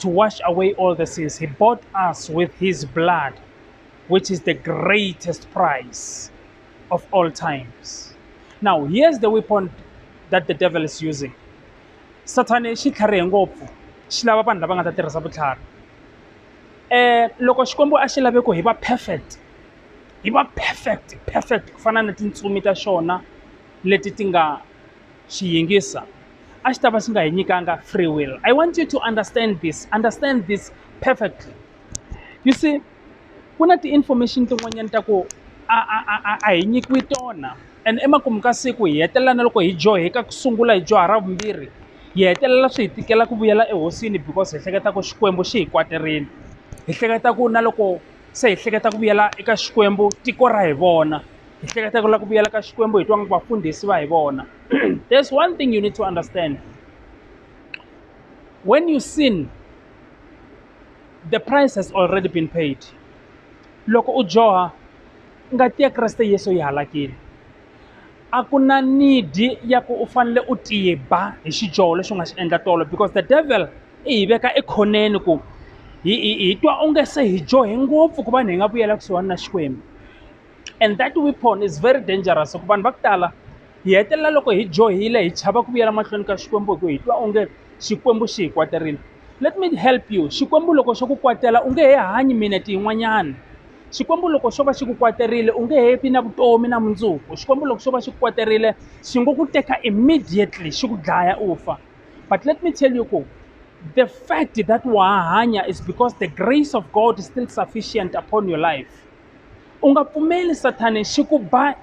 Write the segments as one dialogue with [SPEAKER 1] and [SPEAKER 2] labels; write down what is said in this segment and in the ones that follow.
[SPEAKER 1] to wash away all the sins. He bought us with his blood, which is the greatest price of all times. Now, here's the weapon that the devil is using. Satan xi tlharihe ngopfu xi lava vanhu lava nga ta tirhisa vutlhari. Eh loko Xikwembu a xi lave ku hi va perfect hi va perfect perfect ku fana na tintsumi ta xona leti ti nga chiyingisa a xi ta va xi nga hi nyikanga free will i want you to understand this understand this perfectly you see ku na ti-information tin'wanyana ta ku a a a a a hi nyikiwi tona and emakumu ka siku hi hetelela na loko hi dyoheka ku sungula hi dyoha ra vumbirhi hi hetelela swi hi tikela ku vuyela ehosini because hi hleketa ku xikwembu xi hi kwaterile hi hleketa ku na loko se hi hleketa ku vuyela eka xikwembu tiko ra hi vona hi hleketa ku lava ku vuyela ka xikwembu hi twa nga vafundhisi va hi vona there's one thing you need to understand when you sin the price has already been paid loko u dyoha ngati ya kreste yesu yi halakile a ku na nidi ya ku u fanele u tiba hi xidyoho lexi u nga xi endla tolo because the devil i hi veka ekhoneni ku hi hi hi twa onge se hi dyohe ngopfu ku va hi nga vuyela kusuhani na xikwembu and that weapon is very dangerous ku vanhu va ku tala hi hetelela loko hi dyohile hi chava ku vuyela mahlweni ka xikwembu hi ku hi twa onge xikwembu xi hi kwaterile Let me help you. Xikwembu loko xo ku kwatela u nge he hanyi minete yin'wanyana. Xikwembu loko xo va xi ku kwaterile u nge he vi na vutomi na mundzuku. Xikwembu loko xo va xi ku kwaterile xi ngo ku teka immediately xi ku dlaya u fa. But let me tell you ku the fact that wa ha hanya is because the grace of God is still sufficient upon your life. U nga pfumeli Sathane xi ku ba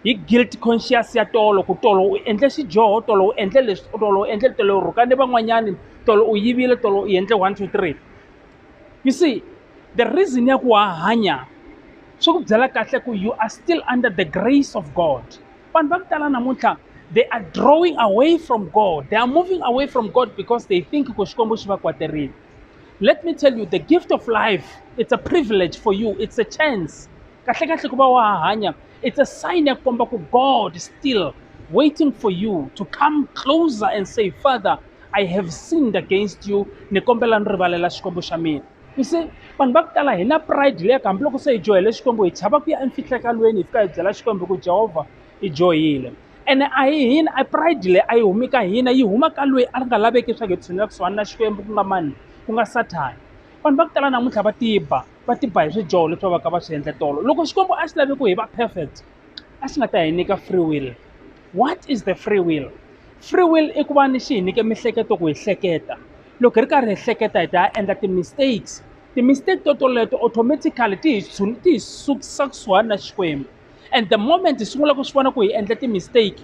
[SPEAKER 1] hi guilt conscious ya tolo ku tolo u endle xidyoho tolo u endle leswi tolo u endle tolo u rhuka ni van'wanyani tolo u yivile tolo u endle one two three you see the reason ya ku wa hanya swi ku byela kahle ku you are still under the grace of god vanhu va ku tala namuntlha they are drawing away from god they are moving away from god because they think ku xikwembu xi va kwaterile let me tell you the gift of life it's a privilege for you it's a chance kahlekahle ku va wa ha hanya it's a sign ya ku komba ku god is still waiting for you to come closer and say father i have sinned against you ni kombela ni rivalela xikwembu xa mina you see vanhu va ku tala hi na pride leyi ka hambiloko se hi dyohele xikwembu hi chava ku ya emfihlekalweni hi fika hi byela xikwembu ku jehovha hi dyohile ene a hi hina a pride leyi a yi humi ka hina yi huma ka loyi a nga laveki leswaku hi tshunela kusuhani na xikwembu ku nga mani ku nga sathana vanhu va ku tala namuntlha va tiba va tiba hi swidyoho leswi va va ka va swi endle tolo loko xikwembu a xi lavi ku hi va perfect a xi nga ta hi nyika free will what is the free will free will i ku va ni xi hi nyike mihleketo ku hi hleketa loko hi ri karhi hi hleketa hi ta ya endla ti-mistakes ti-mistake to toleto automatically ti hi tshuni ti hi sukisa kusuhani na xikwembu and the moment hi sungula ku swi vona ku hi endla ti-mistake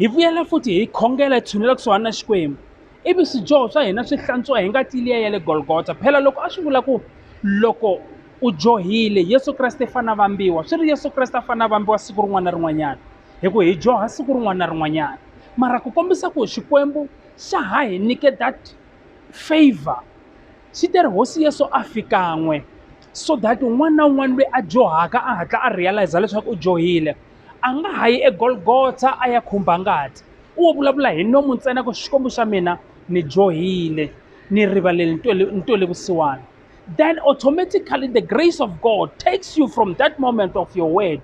[SPEAKER 1] hi vuyela futhi hi khongela hi tshunela kusuhani na xikwembu ivi swidyoho swa hina swi hlantswiwa hi ngati liya ya le golgota phela loko a swi vula ku loko u dyohile yesu kreste i fanele a vambiwa swi ri yesu kreste a fanele a vambiwa siku rin'wana na rin'wanyana hi ku hi dyoha siku rin'wana na rin'wanyana mara ku kombisa ku xikwembu xa ha hi nyike that favor xi te ri hosi yesu a fikan'we so that un'wana na un'wana loyi a dyohaka a hatla a realize leswaku u dyohile a nga ha yi egolgotha a ya khumba ngati u wo vulavula hi nomu ntsena ku xikwembu xa mina ni dyohile ni rivalele ni twele vusiwana then automatically the grace of god takes you from that moment of your word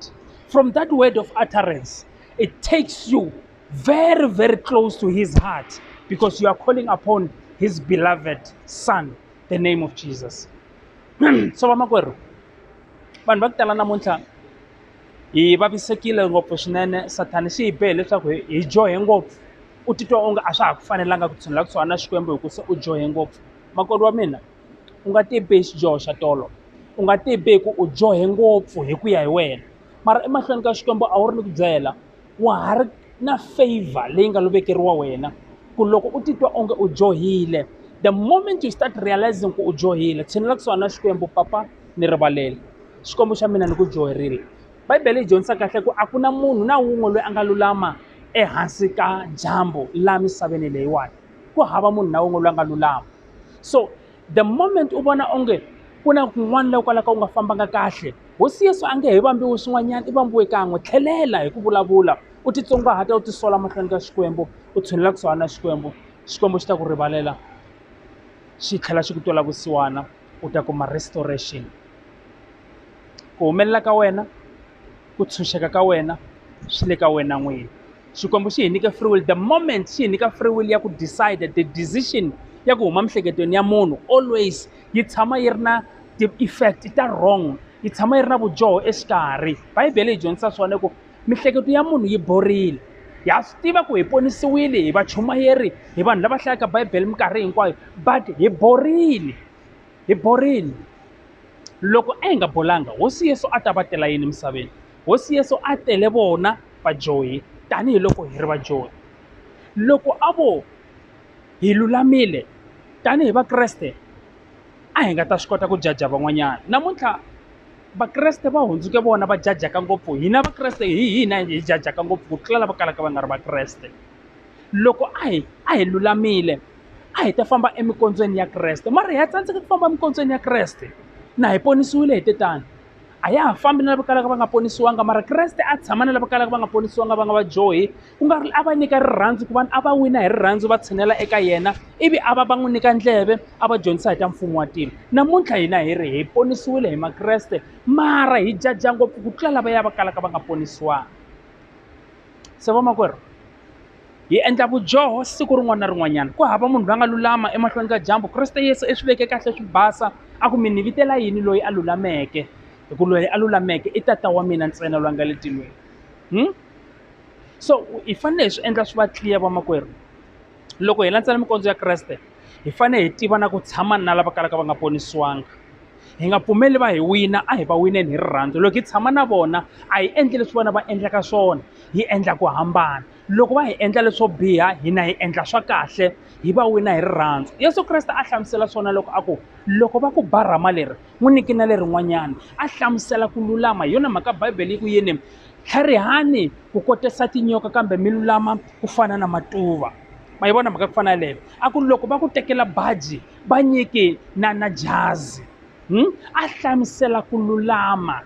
[SPEAKER 1] from that word of utterance it takes you very very close to his heart because you are calling upon his beloved son the name of jesus so vamakwerhu vanhu va ku tala namuntlha hi vavisekile ngopfu swinene sathana xi hi behe leswaku hi hi dyohe ngopfu u titwa onge a swa ha ku fanelanga ku tshunela kusuhana na xikwembu hi ku se u dyohe ngopfu makoti wa mina u nga ti bihi xidyoho xa tolo u nga ti bihi ku u dyohe ngopfu hi ku ya hi wena mara emahlweni ka xikwembu a wu ri ni ku byela wa ha ri na favor leyi nga lo vekeriwa wena ku loko u titwa onge u dyohile the moment you start realizing ku u dyohile tshinela kusuhana na xikwembu papa ni rivalele xikwembu xa mina ni ku dyoherile bibele yi dyondzisa kahle ku a ku na munhu na wun'we loyi a nga lulama ehansi ka dyambu la misaveni leyiwani ku hava munhu na wun'we loyi a nga lulama so the moment u vona onge ku na kun'wana la kwalaka u nga fambanga kahle hosi yesu a nge he vambiwi swin'wanyana i vambiwe kan'we tlhelela hi ku vulavula u titsongahata u tisola mahlweni ka xikwembu u tshunelela kusuhana na xikwembu xikwembu xi ta ku rivalela xi tlhela xi ku twela vusiwana u ta kuma restoration ku humelela ka wena ku tshunxeka ka wena swi le ka wena n'wini xikwembu xi hi nyike free will the moment xi hi nyika free will ya ku decide the decision ya ku huma miehleketweni ya munhu always yi tshama yi ri na ti-effect ta wrong yi tshama yi ri na vudyoho exikarhi bibele yi dyondzisa swona ku Mihleketo ya munhu yi borile. Ha swi tiva ku hi ponisiwile hi vachumayeri hi vanhu lava hlayaka Bibele minkarhi hinkwayo but hi borile hi borile loko a hi nga bolanga hosi Yesu a ta va tela yini emisaveni hosi Yesu a tele vona vadyohi tanihiloko hi ri vadyohi loko a vo hi lulamile tanihi Vakreste. a hi nga ta swi kota ku jaja van'wanyana namuntlha vakreste va hundzuke vona va jajaka ngopfu hina vakreste hi hina hi jajaka ngopfu ku tlula lava kalaka va nga ri vakreste loko a hi a hi lulamile a hi ta famba emikondzweni ya kreste mara hi ya tsandzeka ku famba emikondzweni ya kreste na hi ponisiwile hi te tano a ya ha fambi na lava kalaka va nga ponisiwanga mara kreste a tshama na lava kalaka va nga ponisiwanga va nga va dyohi ku nga ri a va nyika rirhandzu ku vanhu a va wina hi rirhandzu va tshinela eka yena ivi a va va n'wi nyika ndleve a va dyondzisa hi ta mfumo wa tilo namuntlha hina hi ri hi ponisiwile hi makreste mara hi jaja ngopfu ku tlula lava ya va kalaka va nga ponisiwanga se vamakwerhu Hi endla vudyoho siku rin'wana na rin'wanyana. Ku hava munhu la nga lulama emahlweni ka dyambu. Kreste Yesu i swi veke kahle swi basa, a ku, Mi ni vitela yini loyi a lulameke? Hi ku loyi a lulameke i Tata wa mina ntsena loyi a nga le tilweni. Hmm? So hi fanele hi swi endla swi va tliya vamakwerhu. Loko hi landzela minkondzo ya Kreste, hi fanele hi tiva na ku tshama na lava kalaka va nga ponisiwanga. hi nga pfumeli va hi wina a hi va wineni hi rirhandzu loko hi tshama na vona a hi endli leswi vona va endlaka swona hi endla ku hambana loko va hi endla leswo biha hina hi endla swa kahle hi va wina hi rirhandzu yesu kreste a hlamusela swona loko a ku loko va ku ba rhama leri n'wi niki na lerin'wanyana a hlamusela ku lulama hi yona mhaka bibele yi ku yini tlharihani ku kotisa tinyoka kambe mi lulama ku fana na matuva ma yi vona mhaka ku fana yaleyo a ku loko va ku tekela baji va nyiki na na jazi a hlamusela ku lulama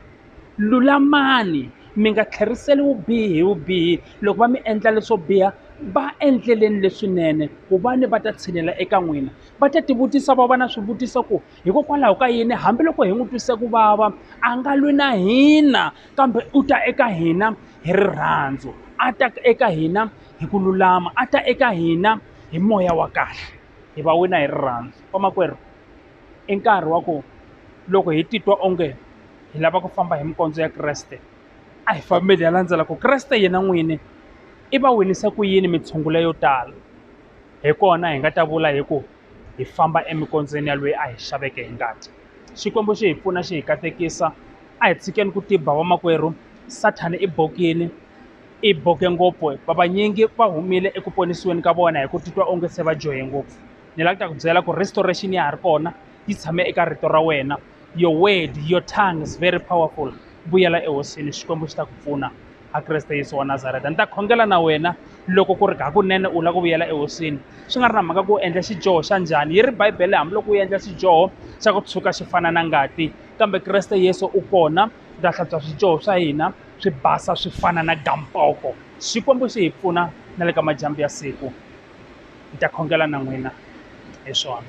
[SPEAKER 1] lulamani mi nga tlheriseli vubihi hi vubihi loko va mi endla leswo biha va endleleni leswinene ku va ni va ta tshinela eka n'wina va ta tivutisa va va na swivutiso ku hikokwalaho ka yini hambiloko hi n'wi twise ku vava a nga lwi na hina kambe u ta eka hina hi rirhandzu a ta eka hina hi ku lulama a ta eka hina hi moya wa kahle. hi va wina hi rirhandzu vamakwerhu i nkarhi wa ku loko hi titwa onge hi lava ku famba hi minkondzo ya kreste a hi fambeli ya landzela ku kreste yena n'wini i va winise ku yini mitshungulo yo tala hi kona hi nga ta vula hi ku hi famba emikondzweni ya loyi a hi xaveke hi ngati xikwembu xi hi pfuna xi hi katekisa a hi tshikeni ku tiba vamakwerhu sathana i bokini I boke ngopfu hikuva vanyingi va humile eku ponisiweni ka vona hi ku titwa onge se va dyohe ngopfu. Ni lava ku ta ku byela ku restoration ya ha ri kona yi tshame eka rito ra wena your word your tongue is very powerful vuyela ehosini xikwembu xi ta ku pfuna a kreste yesu wa nazareta ni ta khongela na wena loko ku ri hakunene u lava ku vuyela ehosini swi nga ri na mhaka ku u endla xidyoho xa njhani yi ri bibele hambiloko u endla xidyoho xa ku tshuka xi fana na ngati kambe kreste yesu u kona u ta hlantswa swidyoho swa hina swi basa swi fana na gamboko xikwembu xi hi pfuna na le ka madyambu ya siku ni ta khongela na n'wina hi swona.